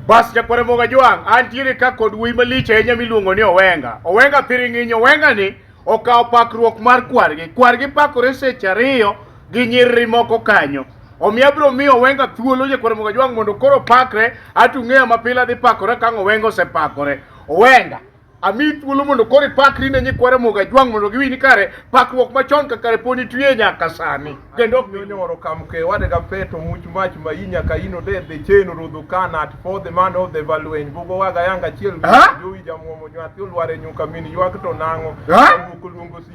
Bas jakwara moga jwang' antiere ka kod wuoyi malich ahinya miluongo ni Owenga. Owenga thiring'inyi Owenga ni okawo pakruok mar kwargi. Kwargi pakore seche ariyo gi nyiriri moko kanyo. Omiyo abiro miyo Owenga thuolo jakwara moga jwang' mondo koro pakre atung'eya mapile adhi pakore kang' Owenga osepakore. Owenga ami thuolo mondo koro ipakri ne nyikwa Ramogi Ajwang' mondo giwinj ni kare pakruok machon ka kare poni twiye nyaka sani kendo ok nyonyo oro kam ke wade ka peto much mach ma inya ka ino de de cheno rodho kana at for the man of the valwen bugo waga yanga chiel Ha? jowi jamuomo nyathi olware nyuka min ywak to nango Ha? luongo luongo si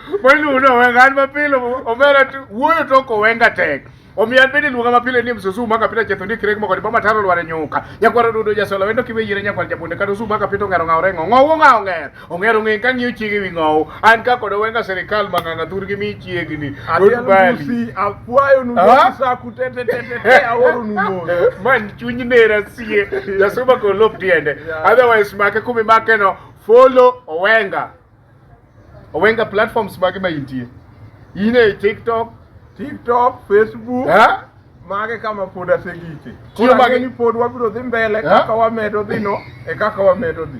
Kwani unawenga ni mapile omera tu wuoyo to kowenga tek. Omiyo abedi luonga mapile ni msusu maka pita chetho ni kirek moko ni bama taro lware nyuka. Nyakwaro dudo jasola wendo kiwe yire nyakwar japunde kata usu maka pito ngero ngao rengo. Ngao ngao ngero. Ongero ngi ka ngiyo chiege wi ngao. An ka kodo wenga serikal manganga thur gi mi chiege ni. Adiel musi akwayo nu ah? sa kutete tete te aworo nu mo. Man chuny nera sie. Jasuma ko lop tiende. Otherwise make kumi make no follow owenga. Owenga platforms mage ma intie? In e TikTok, TikTok, Facebook. Eh? Mage kama pod asegike. Tiyo mage ni pod wabiro dhi mbele kaka wamedo dhi no e kaka wamedo dhi.